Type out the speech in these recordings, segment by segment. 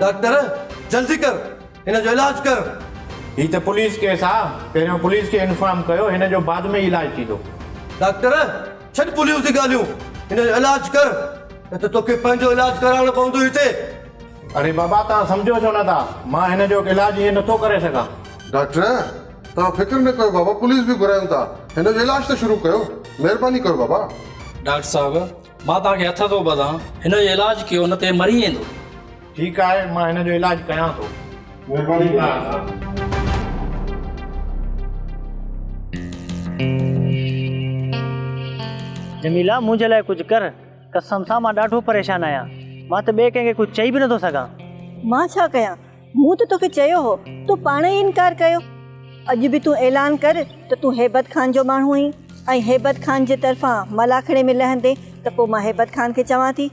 Doctor جلدي ڪر هن جو علاج ڪر. هي ته پوليس ڪيس آ پهريون پوليس کي انفارم ڪيو هن جو بعد ۾ ئي علاج ٿيندو. ڊاڪٽر ڇڏ پوليس جي ڳالهيون هن جو علاج ڪر نه ته توکي پنهنجو علاج ڪرائڻو پوندو هتي. اڙي بابا توهان سمجهو ڇو نه ٿا مان هن جو علاج هيئن نه ٿو ڪري سگهان. ڊاڪٽر توهان فڪر نه ڪيو بابا پوليس به گهرايون ٿا هن جو علاج ته شروع ڪيو مهرباني ڪيو بابا. ڊاڪٽر صاحب مان توهان کي هٿ ٿو ٻڌان هن جو علاج ڪيو نه ته هي مري ويندو. ٺيڪ آهي مان هن جو علاج ڪيان ٿو. مهرباني ڪيو ڊاڪٽر صاحب. جميلا منهنجي لاء ڪجهه ڪر قسم سان مان ڏاڍو پريشان آهيان مان ته ٻئي ڪنهن کي ڪجهه چئي به نه ٿو سگهان. مان ڇا ڪيان مون ته توکي چيو هو، تون پاڻ ئي انڪار ڪيو. اڄ به تون اعلان ڪر ته تون هيبت خان جو ماڻهو آهين ۽ هيبت خان جي طرفان ملاکڙي ۾ لهندين ته پوء مان هيبت خان کي چوان ٿي.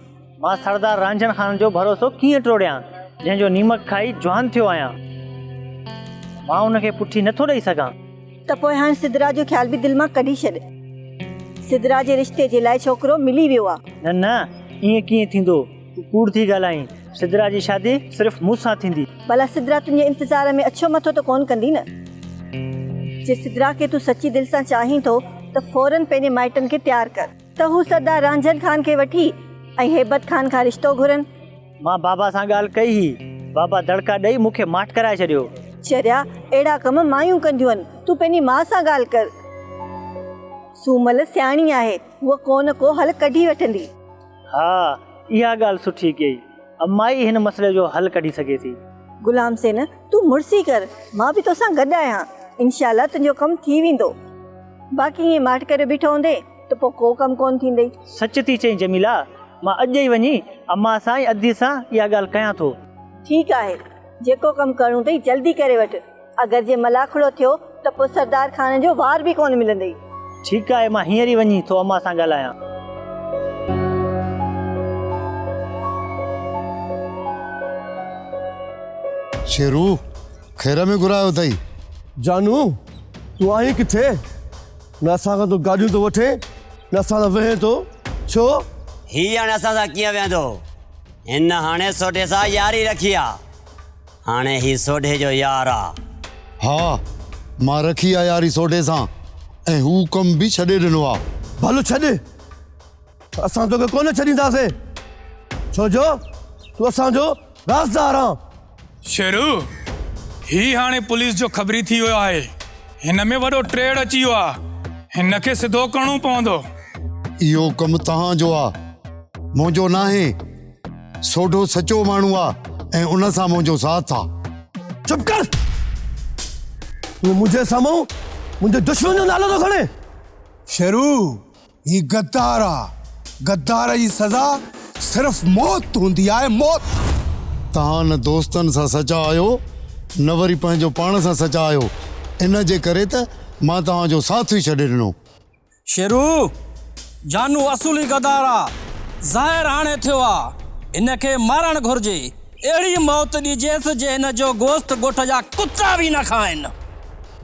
مان سردار رانجهڻ خان جو ڀروسو ڪيئن ٽوڙيان، جنهن جو نيمڪ کائي جوان ٿيو آهيان. مان ان کي پٺي نه ٿو ڏئي سگهان. ته پوء هاڻ سدرا جو خيال به دل مان ڪڍي ڇڏ. سدرا جي رشتي جي لاء ڇوڪرو ملي ويو آهي. نه نه، ائين ڪيئن ٿيندو. تون ڪوڙ ٿي ڳالهائين. سدرا جي شادي صرف مون سان ٿيندي. ڀلا سدرا تنهنجي انتظار ۾ اڇو مٿو ته ڪونه ڪندي نه؟ جي سدرا کي تون سچي دل سان چاهين ٿو ته فورن پنهنجي مائٽن کي تيار ڪر. ته هو سردار رانجهر خان کي وٺي ۽ هيبت خان کان رشتو گهرن. مان بابا سان ڳالهه ڪئي هئي. بابا دڙڪا ڏئي مون کي ماٺ ڪرائي ڇڏيو. چريا اهڙا ڪم مايون ڪنديون آهن. تون پنهنجي ماء سان ڳالهه ڪر. سومل سياڻي آهي. هوء ڪونه ڪو حل ڪڍي وٺندي. ها اها ڳالهه سٺي ڪيئي. امائي هن مسئلي جو حل ڪڍي سگهي ٿي. غلام حسين تون مڙسي ڪر مان به توسان گڏ آهيان انشاء الله تنهنجو ڪم ٿي ويندو باقي ائين ماٺ ڪري بيٺو هوندين ته پوء ڪو ڪم ڪونه ٿيندئي. سچ ٿي چئين جميله مان اڄ ئي وڃي امان سان ۽ ادي سان اها ڳالهه ڪيان ٿو. ٺيڪ آهي جيڪو ڪم ڪرڻو اٿئي جلدي ڪري وٺ. اگر جي ملاکڙو ٿيو ته پوء سردار خان جو وار به ڪونه ملندئي. ٺيڪ آهي مان هينئر ئي وڃي ٿو امان سان ڳالهايان. شيرو خير ۾ گهرايو اٿئي. جانو تون آهين ڪٿي؟ نه اسان کان تون گاڏيون ٿو وٺين نه اسان سان ويهين ٿو ڇو؟ هي هاڻي اسان سان ڪيئن ويهندو؟ هن هاڻي سوڍي سان ياري رکي آ. هاڻي هي سوڍي جو يار آ. ها، مان رکي آ ياري سوڍي سان ۽ هو ڪم به ڇڏي ڏنو آ. ڀل ڇڏ، اسان توکي ڪونه ڇڏينداسين، ڇو جو تون اسان جو رازدار آن. شيرو، هي هاڻي پوليس جو خبري ٿي ويو آهي، هن ۾ وڏو ٽيڙ اچي ويو آ، هن کي سڌو ڪرڻو پوندو. اهو ڪم توهان جو آ، منهنجو ناهي. سوڍو سچو ماڻهو آ ۽ ان سان منهنجو ساٿ آ. چپ ڪر! تون منهنجي سامهون منهنجي دشمن جو نالو ٿو کڻين؟ شيرو هي غدار آ. غدار جي سزا صرف موت هوندي آهي موت! توهان نه دوستن سان سچا آهيو نه وري پنهنجو پاڻ سان سچا آهيو ان جي ڪري ته مان توهان جو ساٿ ئي ڇڏي ڏنو. شيرو، جانو اصولي غدار آ، ظاهر هاڻي ٿيو آ، هن کي مارڻ گهرجي، اهڙي موت ڏجيس جي هن جو گوشت ڳوٺ جا ڪتا به نه کائن.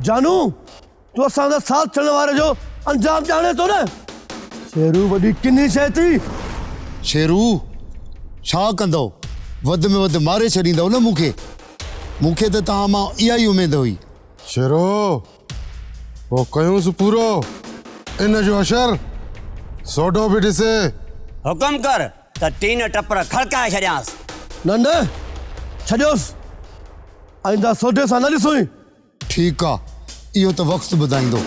جانو، تون اسان سان ساٿ ڇڏڻ واري جو انجام ڄاڻين ٿو نه؟ شيرو، وڏي ڪني شيء ٿي. شيرو، ڇا ڪندؤ، وڌ ۾ وڌ ماري ڇڏيندؤ نه مون کي، مون کي ته توهان مان اها ئي اميد هئي. شيرو، پوء ڪيونس پورو ان جو اشر، سوڍو به ڏسي. حڪم ڪر ته ٽين ٽپر کڙڪائي ڇڏيانس. نه نه، ڇڏيوس، آئنده سوڍي سان نه ڏسوئين. ٺيڪ آ، اهو ته وقت ٻڌائيندو.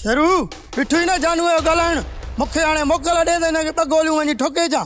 شيرو، ڏٺوئي نه جانوء جو ڳالهائڻ، مون کي هاڻي موڪل ڏي ته هن کي ٻه گوليون وڃي ٺوڪي اچان.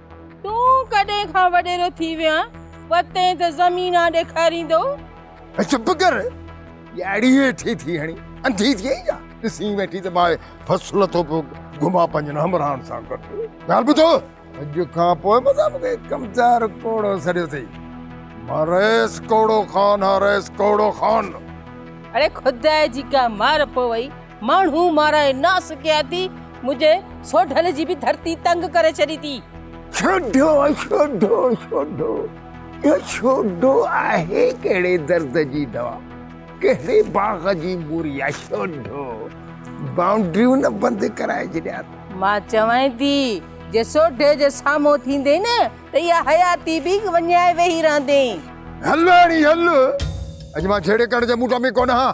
تون ڪڏهن کان وڏيرو ٿي ويو آهين وتين ته زمين آ ڏيکاريندو. اي چپ ڪر ڄاڙي ويٺي ٿي هڻي انڌي ٿي آهين ڇا ڏسين ويٺي ته ماهي ڦس لٿو پيو گهمان پنهنجن همراهن سان گڏ ڳالهه ٻڌو اڄ کان پوء متان مون کي ڪمچار ڪوڙو سڏيو اٿئي مان رهيس ڪوڙو خان ها رهيس ڪوڙو خان. اڙي خدا جي ڪا مار پوئي. ماڻهو مارائي ناسکياتي منهنجي سوڍل جي به ڌرتي تنگ ڪري ڇڏي ٿي. سوڍو سوڍو سوڍو اهو سوڍو آهي ڪهڙي درد جي دوا ڪهڙي باغ جي موري آهي سوڍو بائونڊريون نه بند ڪرائي ڇڏيا ته. مان چوانء ٿي جي سوڍي جي سامهون ٿيندين نه ته اها حياتي به وڃائي ويهي رهندين. هل راڻي هل اڄ مان جهيڙي ڪرڻ جي موڊ ۾ ڪونه هان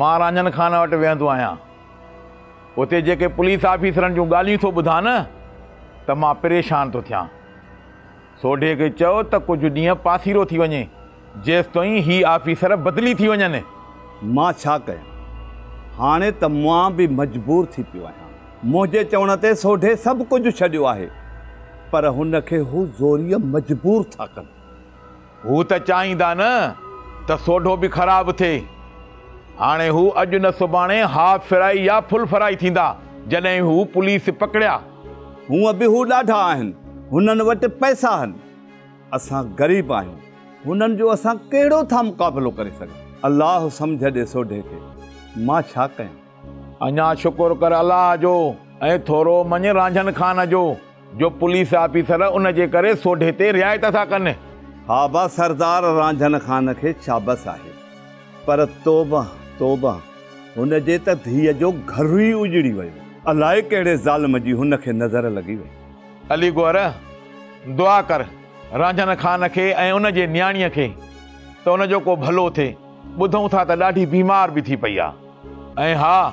مان رانجهن خان وٽ ويهندو آهيان. اتي جيڪي پوليس آفيسرن جون ڳالهيون ٿو ٻڌان نه ته مان پريشان ٿو ٿيان. سوڍي کي چئو ته ڪجهه ڏينهن پاسيرو ٿي وڃي، جيستائين هي آفيسر بدلي ٿي وڃن. مان ڇا ڪيان؟ هاڻي ته مان به مجبور ٿي پيو آهيان. منهنجي چوڻ تي سوڍي سڀ ڪجهه ڇڏيو آهي، پر هن کي هو زوريء مجبور ٿا ڪن. هو ته چاهيندا نه ته سوڍو به خراب ٿئي. هاڻي هو اڄ نه سڀاڻي هاف فرائي يا فل فرائي ٿيندا جڏهن هو پوليس پڪڙيا. هونء به هو ڏاڍا آهن. هنن وٽ پئسا آهن. اسان غريب آهيون. هنن جو اسان ڪهڙو ٿا مقابلو ڪري سگهون. الله سمجهه ڏي سوڍي کي. مان ڇا ڪيان؟ اڃا شڪر ڪر الله جو ۽ ٿورو مڃ رانجهن خان جو. جو پوليس آفيسر ان جي ڪري سوڍي تي رعايت ٿا ڪن. ها با سردار رانجهن خان کي شابس آهي پر توبه توبه هن جي ته ڌيء جو گهر ئي اجڙي ويو. الائي ڪهڙي ظالم جي هن کي نظر لڳي وئي. علي گوهر دعا ڪر رانجهن خان کي ۽ ان جي نياڻيء کي ته ان جو ڪو ڀلو ٿئي. ٻڌون ٿا ته ڏاڍي بيمار به ٿي پئي آهي ۽ ها!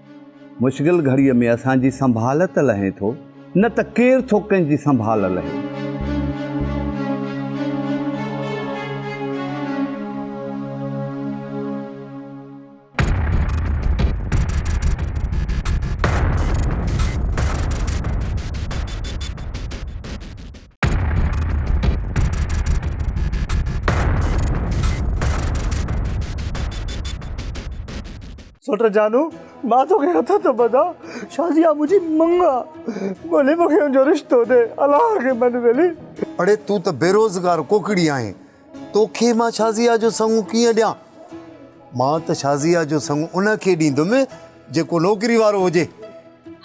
مشغل گهڙيء ۾ اسان جي سنڀال ته لهين ٿو، نه ته ڪير ٿو ڪنهن جي سنڀال لهي. سوٽ جانو، مان توکي هٿ ٿو ٻڌان، شازيا منهنجي مڱ آ، ڀلي مونکي ان جو رشتو ڏي، الله کي مڃ ٻيلي. اڙي تون ته بيروزگار ڪوڪڙي آهين، توکي مان شازيا جو سڱ ڪيئن ڏيان؟ مان ته شازيا جو سڱ ان کي ڏيندم جيڪو نوڪري وارو هجي.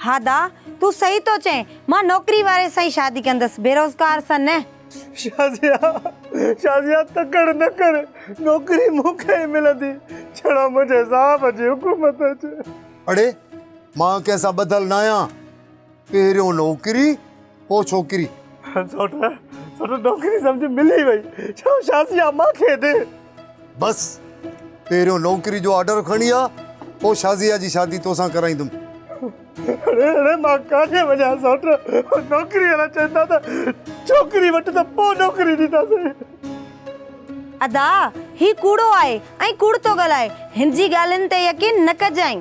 ها دا، تون صحيح ٿو چئين، مان نوڪري واري سان ئي شادي ڪندس، بيروزگار سان نه. شازيا! شازيا! تڪڙ نه ڪر، نوڪري مون کي ئي ملندي، ڇڙو منهنجي صاحب جي حڪم تي اچي. اڙي! مان ڪنهن سان ٻڌل ناهيان، پهريون نوڪري پوء ڇوڪري. سوٽ! سوٽ! نوڪري سمجهه ملي وئي، ڇڙو شازيا مان کي ڏي. بس پهريون نوڪري جو آرڊر کڻي آ پوء شازيه جي شادي توسان ڪرائيندم. اڙي اڙي مان ڪاٿي وڃان سوٽ نوڪري وارا چون ٿا ته ڇوڪري وٺ ته پوء نوڪري ڏينداسين. ادا هي ڪوڙو آهي ۽ ڪوڙ ٿو ڳالهائي هن جي ڳالهين تي يقين نه ڪجانء.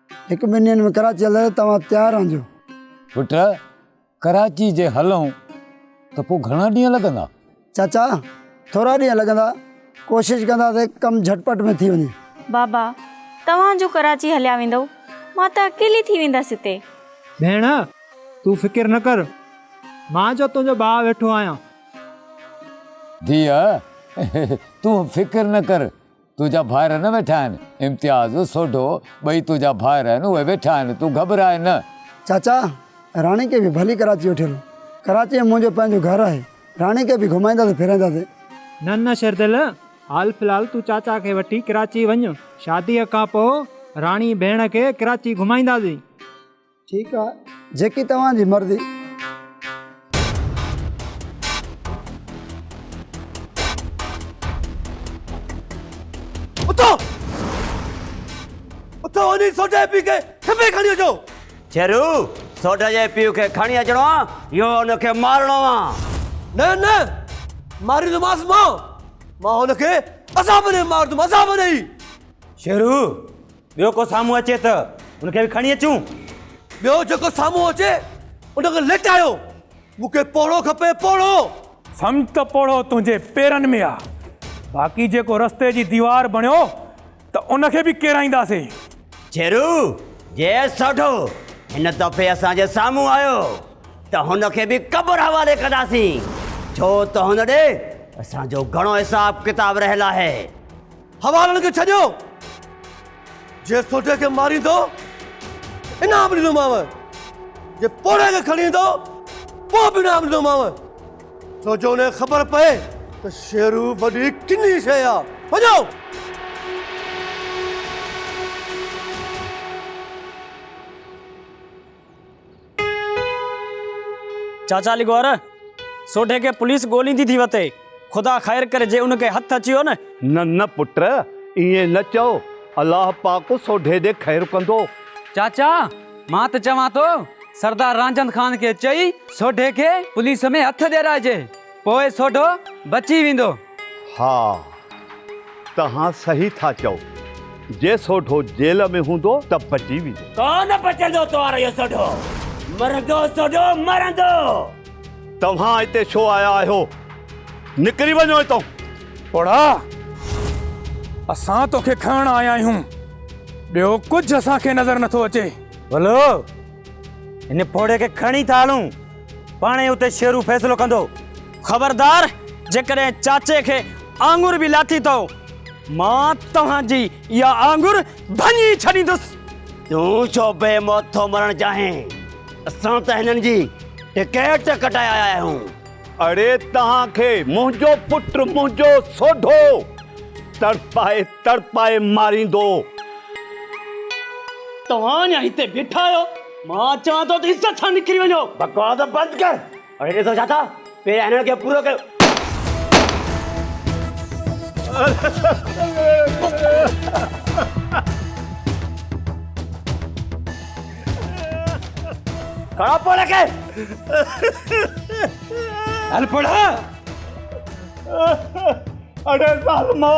هڪ ٻن ڏينهن ۾ ڪراچي هلڻ لاء توهان تيار رهنجو. پٽ! ڪراچي جي هلئون ته پوء گهڻا ڏينهن لڳندا؟ چاچا! ٿورا ڏينهن لڳندا. ڪوشش ڪنداسين ڪم جهٽ پٽ ۾ ٿي وڃي. بابا! توهان جو ڪراچي هليا ويندؤ، مان ته اڪيلي ٿي ويندس هتي. ڀيڻ! تون فڪر نه ڪر. مان جو تنهنجو ڀاء ويٺو آهيان. ڌيء! تون فڪر نه ڪر. تنهنجا ڀائر نه ويٺا آهن. امتياز، سوڍو، ٻئي تنهنجا ڀائر آهن، اهي ويٺا آهن، تون گهٻراء نه. چاچا، راڻي کي به ڀلي ڪراچي وٺي هلو. ڪراچي ۾ منهنجو پنهنجو گهر آهي، راڻي کي به گهمائينداسين ڦيرائينداسين. نه نه شردل، حال في الحال تون چاچا کي وٺي ڪراچي وڃ، شاديء کان پوء راڻي ڀيڻ کي ڪراچي گهمائينداسين. ٺيڪ آ جيڪي توهان جي مرضي. اٿو اٿو وڃي سوڍي پي کي کپي کڻي اچو. شيرو سوڍي جي پي کي کڻي اچڻو آ يو ان کي مارڻو آ. نه نه ماريندوماس مان مان ان کي عذاب ڏئي مارندوم عذاب ڏئي. شيرو ٻيو ڪو سامهون اچي ته ان کي به کڻي اچون. ٻيو جيڪو سامهون اچي ان کي لٽايو. مون کي پوڙهو کپي، پوڙهو. سمجهه ته پوڙهو تنهنجي پيرن ۾ آ. باقي جيڪو رستي جي ديوار بڻيو ته ان کي به ڪيرائينداسين. جيرو، جي سوڍو هن دفعي اسان جي سامهون آيو ته هن کي به قبر حوالي ڪنداسين. ڇو ته هن ڏي اسان جو گهڻو حساب ڪتاب رهيل آهي. حوالن کي ڇڏيو، جنهن سوڍي کي ماريندو، انعام ڏيندومانء، جي پوڙهي کي کڻي ايندو، پوء به انعام ڏيندومانء، ڇو جو انهيء کي خبر پئي ته شيرو وڏي ڪني شيء آ. وڃو! چاچا لغور سوڍي کي پوليس ڳوليندي ٿي وتي خدا خير ڪري جي ان کي هٿ اچي ويو نه. نه نه پٽ ائين نه چئو الله پاڪ سوڍي ڏي خير ڪندو. چاچا مان ته چوان ٿو سردار رانجهند خان کي چئي سوڍي کي پوليس ۾ هٿ ڏيرائجي پوء سوڍو بچي ويندو. ها توهان صحيح ٿا چئو. جي سوڍو جيل ۾ هوندو ته بچي ويندو. ڪو نه بچندو توهان ريو سوڍو. مرندو سوڍو مرندو. توهان هتي ڇو آيا آهيو؟ نڪري وڃو هتان. پوڙها اسان توکي کڻڻ آيا آهيون. ٻيو ڪجهه اسان کي نظر نٿو اچي. ولو هن پوڙهي کي کڻي ٿا هلون. پاڻ ئي اتي شيرو فيصلو ڪندو. خبردار! جيڪڏهن چاچي کي آڱر به لاٿي ٿئو، مان توهان جي اها آڱر ڀڃي ڇڏيندس. تون ڇو بي موت ٿو مرڻ چاهين؟ اسان ته هنن جي ٽڪيٽ ڪٽائي آيا آهيون. اڙي توهان کي منهنجو پٽ منهنجو سوڍو تڙپائي تڙپائي ماريندو. توهان اڃا هتي بيٺا آهيو؟ مان چوان ٿو ته عزت سان نڪري وڃو. بڪواس بند ڪر ۽ ڏسو ڇا ٿا پهريان هنن کي پورو ڪيو. کڻو پوڙهي کي. هل پوڙها. اڙي ظالمو.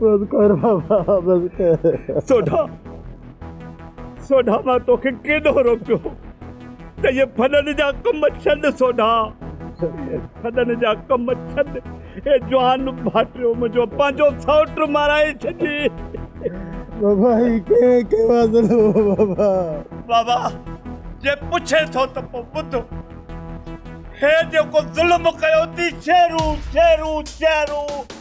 بس ڪر بابا بس ڪر. سوڍا سوڍا مان توکي ڪيڏو روڪيو ته اهي ڦڏن جا ڪم ڇڏ سوڍا اهي ڦڏن جا ڪم ڇڏ اي جوان ڀاٽيو منهنجو پنهنجو سئوٽ مارائي ڇڏي. بابا هي ڪنهن ڪيو آ ظلم بابا. بابا جي پڇين ٿو ته پو ٻڌ هي جيڪو ظلم ڪيو ٿي شيرون شيرون شيرون.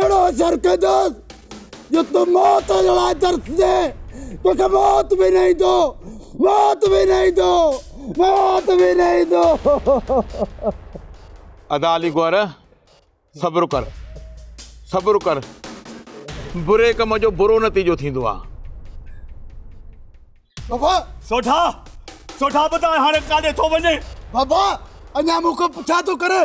اهڙو شر ڪندس جو تون موت جي لاء ترسجين، توکي موت به نه ايندو، موت به نه ايندو، موت به نه ايندو. ادا علي گوهر صبر ڪر صبر ڪر بري ڪم جو برو نتيجو ٿيندو آ. بابا سوڍا سوڍا ٻڌاء هاڻي ڪاڏي ٿو وڃين. بابا اڃا مون کان پڇا ٿو ڪرين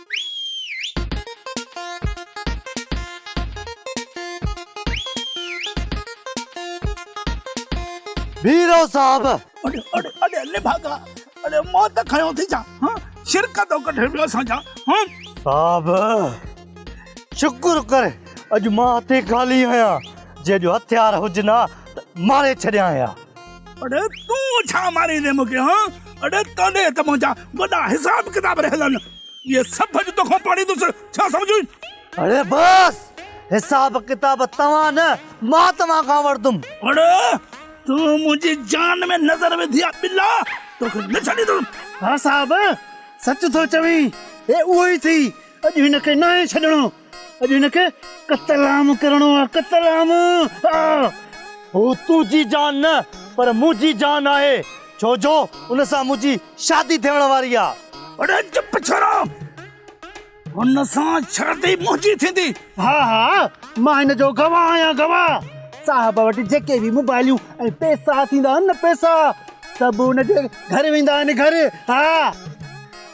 بيرو صاحب اڙي اڙي اڙي اڙي ڀاڳا اڙي موت کيو ٿي جا ها شرڪ تو ڪڍي ويو اسان جا ها صاحب شڪر ڪر اڄ مان هٿي خالي آهيان جي اڄ هٿيار هجن ها ته ماري ڇڏيان ها اڙي تون ڇا ماريندين مون کي هان اڙي تنهنجي هٿ منهنجا وڏا حساب ڪتاب رهيل آهن اهي سڀ اڄ توکان پاڙيندس ڇا سمجهين اڙي بس حساب ڪتاب توهان نه مان توهان کان وٺندم اڙي تون منهنجي جان ۾ نظر وڌي آ ٻلا توکي نه ڇڏيندم ها صاحب سچ ٿو چوين هي اهو ئي ٿي اڄ هن کي ناهي ڇڏڻو اڄ هن کي قتل عام ڪرڻو آهي قتل عام آه. هو تنهنجي جان نه پر منهنجي جان آهي ڇو جو ان سان منهنجي شادي ٿيڻ واري آهي. اڙي چپ ڇورو هن سان شادي منهنجي ٿيندي. ها ها مان هن جو گواهه آهيان گواهه صاحب وٽ جيڪي به موبائليون ۽ پيسا ٿيندا آهن نه پيسا سڀ ان جي گهر ويندا آهن گهر ها.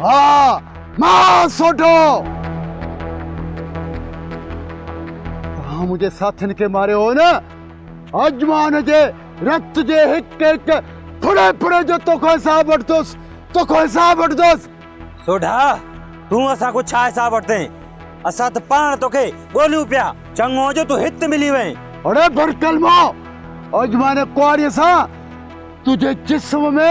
ها مان سوڍو. توهان منهنجي ساٿين کي ماريو هو نه، اڄ مان ان جي رت جي هڪ هڪ ڦڙي ڦڙي جو توکان حساب وٺندس، توکان حساب وٺندس. سوڍا، تون اسان کان ڇا حساب وٺندين؟ اسان ته پاڻ توکي ڳوليون پيا، چڱو جو تون هت ملي وئين. اڙي برڪلمو، اڄ مان ان ڪهاڙيء سان تنهنجي جسم ۾